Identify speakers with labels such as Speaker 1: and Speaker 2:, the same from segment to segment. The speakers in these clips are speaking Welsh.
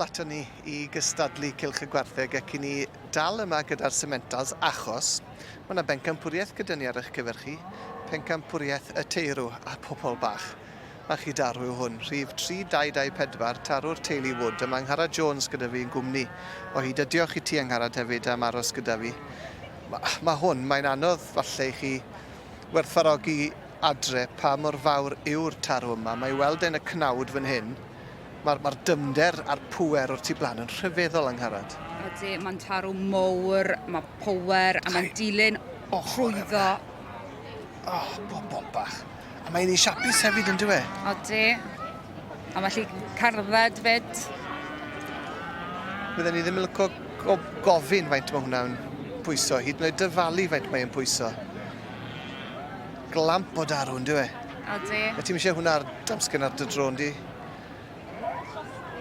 Speaker 1: aton ni i gystadlu Cylch y Gwartheg ac i ni dal yma gyda'r Sementals achos mae yna bencampwriaeth gyda ni ar eich cyfer chi, pencampwriaeth y teirw a pobl bach. Mae chi darw yw hwn, rhif 3224, tarw'r teulu Wood, a mae Angharad Jones gyda fi yn gwmni o hyd a diolch i ti Angharad hefyd am aros gyda fi. Mae, mae hwn, mae'n anodd falle i chi werthfarogi adre pa mor fawr yw'r tarw yma, mae i weld e'n y cnawd fan hyn, Mae'r ma dyfnder a'r pŵer o'r tu blaen yn rhyfeddol, Angharad. Ydy, mae'n tarw
Speaker 2: mowr, mae power, a mae'n dilyn o trwyddo.
Speaker 1: Oh, bobol bach. A mae'n ei siapus hefyd, yn dweud? Ydy.
Speaker 2: A mae lli cardded fyd.
Speaker 1: Bydden ni ddim yn lyco o gofyn faint mae hwnna'n pwyso, hyd yn oed dyfalu faint mae'n pwyso. Glamp o darw, yn dweud? Ydy. A ti'n
Speaker 2: eisiau hwnna ar
Speaker 1: damsgen ar dy drôn di?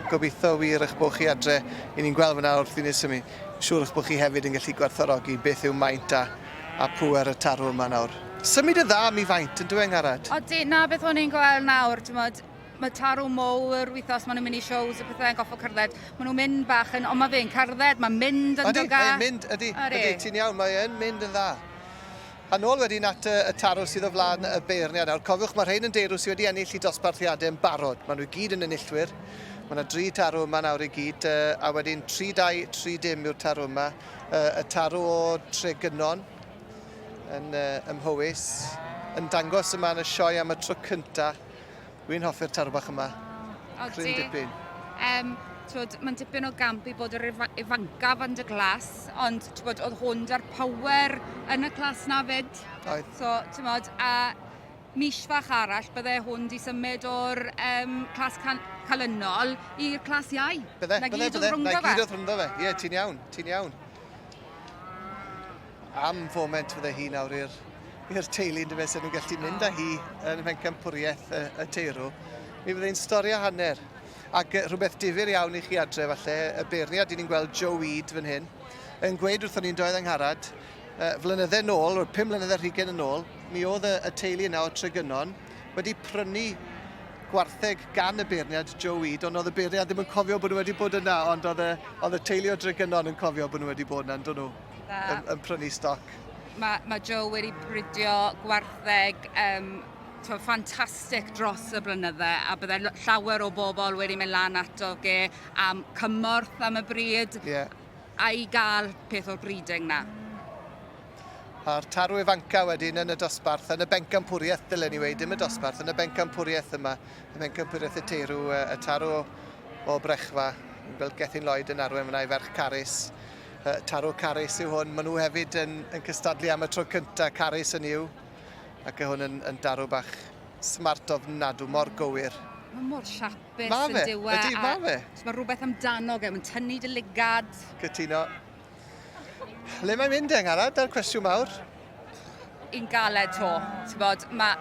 Speaker 1: Gobeithio wir eich bod chi adre. I ni'n gweld fyna wrth i ni symu. Siŵr eich bod chi hefyd yn gallu gwerthfawrogi beth yw maint a, a pŵer y tarw yma nawr. Symud yn dda mi faint, yn dweud Angharad? Odi, na beth o'n i'n
Speaker 2: gweld nawr, tymod, mae tarw mowr wythnos, maen nhw'n mynd i shows a pethau yn goffo cerdded. Maen nhw'n mynd bach yn, ond mae fe'n cerdded, mae'n mynd yn dda. Odi, mae'n mynd, ydy, ydy,
Speaker 1: ti'n iawn, mae'n mynd yn dda. Yn ôl wedyn at y tarw sydd o flaen y beirniad. Nawr, cofiwch, mae rhain yn deirw sydd wedi ennill i dosbarthiadau yn barod. Maen nhw i gyd yn enillwyr. Mae yna dri tarw yma nawr i gyd, a wedyn 3-2, 3 dim yw'r tarw yma. Y tarw o Tregennon yn ymhywys, yn dangos yma yn y sioe am y tro cyntaf Dwi'n hoffi'r taro bach yma. O, o Cryn dipyn. Um, twod,
Speaker 2: mae'n dipyn o gamp i bod yr ifancaf yn dy glas, ond twod, oedd hwn da'r power yn y clas na fyd. Oedd. So, ti'n
Speaker 1: modd, a
Speaker 2: mis fach arall, bydde hwn di symud o'r um, clas cal calynol i'r clas iau. Bydde, bydde, bydde. Na gyd oedd
Speaker 1: rhwngddo fe. Na
Speaker 2: gyd oedd rhwngddo fe. Ie, yeah, ti'n iawn, ti'n iawn.
Speaker 1: Am foment fydde hi nawr i'r i'r teulu yn dyfe, sy'n nhw'n gallu mynd â hi yn y pencampwriaeth y, y teirw. Mi fydde hi'n stori o hanner. Ac rhywbeth difyr iawn i chi adre falle, y beirniad dyn ni'n gweld Joe Weed fan hyn, yn gweud wrthyn ni'n doedd angharad, uh, flynydde nôl, o'r pum mlynedd ar hugen yn ôl, mi oedd y, y teulu yna o Tregynon wedi prynu gwartheg gan y beirniad Joe Weed, ond oedd y beirniad ddim yn cofio bod nhw wedi bod yna, ond oedd y, oedd y teulu o Dregenon yn cofio bod nhw wedi bod yna, yn nhw? Yn, yn prynu stoc. Mae, mae Joe
Speaker 2: wedi bridio gwartheg um, to, ffantastig dros y blynydde a bydde llawer o bobl wedi mynd lan ato ge am cymorth am y bryd yeah. a i gael peth o'r breeding na.
Speaker 1: A'r tarw ifanca wedyn yn y dosbarth, yn y bencampwriaeth, dylen ni wedi, dim y dosbarth, yn y bencampwriaeth yma, y bencampwriaeth y teirw, y tarw o brechfa, yn gweld Gethin Lloyd yn arwen fyna i ferch Carys, Taro Carys yw hwn. Maen nhw hefyd yn, yn cystadlu am y tro cyntaf, Carys yn yw. Ac y hwn yn, yn darw bach smart ofnadw, mor gywir. Mae mor
Speaker 2: siapus ma yn diwa. E. Ydy, ma fe. Mae
Speaker 1: rhywbeth amdano
Speaker 2: fe, mae'n tynnu dy ligad. Cytuno.
Speaker 1: Le mae'n mynd eng arad, da'r cwestiwn mawr? Yn
Speaker 2: galed to. Ti'n bod, mae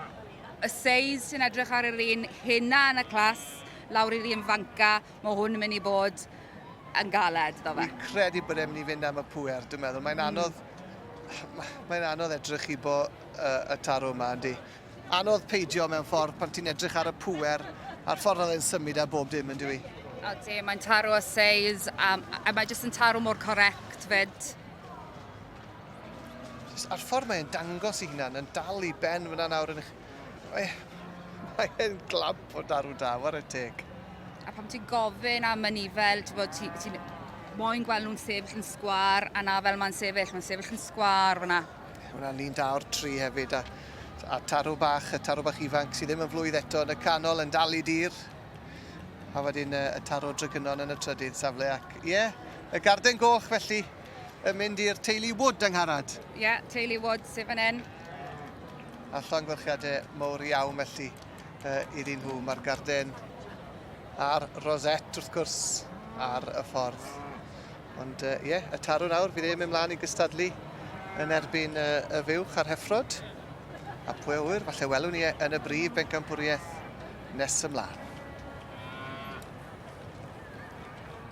Speaker 2: y seis sy'n edrych ar yr un hynna yn y clas, lawr i'r un fanca, Mae hwn yn mynd i bod yn galed, do fe? Fi'n credu bod e'n mynd i
Speaker 1: fynd am y pwer, dwi'n meddwl. Mae'n hmm. anodd... Mae'n anodd edrych i bo uh, y tarw yma, yndi. Anodd peidio mewn ffordd pan ti'n edrych ar y pwer a'r ffordd oedd e'n symud a bob dim, ynddi fi. Odi, mae'n
Speaker 2: tarw o seis, um, a mae jyst yn tarw mor correct fyd.
Speaker 1: A'r ffordd mae'n dangos i hunan yn dal i ben fyna nawr yn eich... Mae, mae e'n glamp o darw da, war y teg. A pam ti'n
Speaker 2: gofyn am yn ifel, ti'n bod, ti'n ti, moyn gweld nhw'n sefyll yn sgwar, a na fel mae'n sefyll, mae'n sefyll yn sgwar fyna. Hwna'n lun da o'r
Speaker 1: tri hefyd, a, a tarw bach, y tarw bach ifanc sydd ddim yn flwydd eto yn y canol, yn dal i dir. A wedyn y, y tarw drygynon yn y trydydd safle, ac ie, yeah, y garden goch felly. yn mynd i'r teulu Wood yng Ngharad. Ie, yeah, teulu Wood
Speaker 2: sydd fan hyn. A
Speaker 1: llongyfarchiadau mawr iawn felly uh, iddyn nhw. Mae'r garden a'r rosette wrth gwrs ar y ffordd. Ond ie, uh, yeah, y tarw nawr, fi ddim yn ymlaen i gystadlu yn erbyn uh, y fuwch a'r heffrod. A pwy o wyr, falle welwn ni e yn y brif bencampwriaeth nes ymlaen.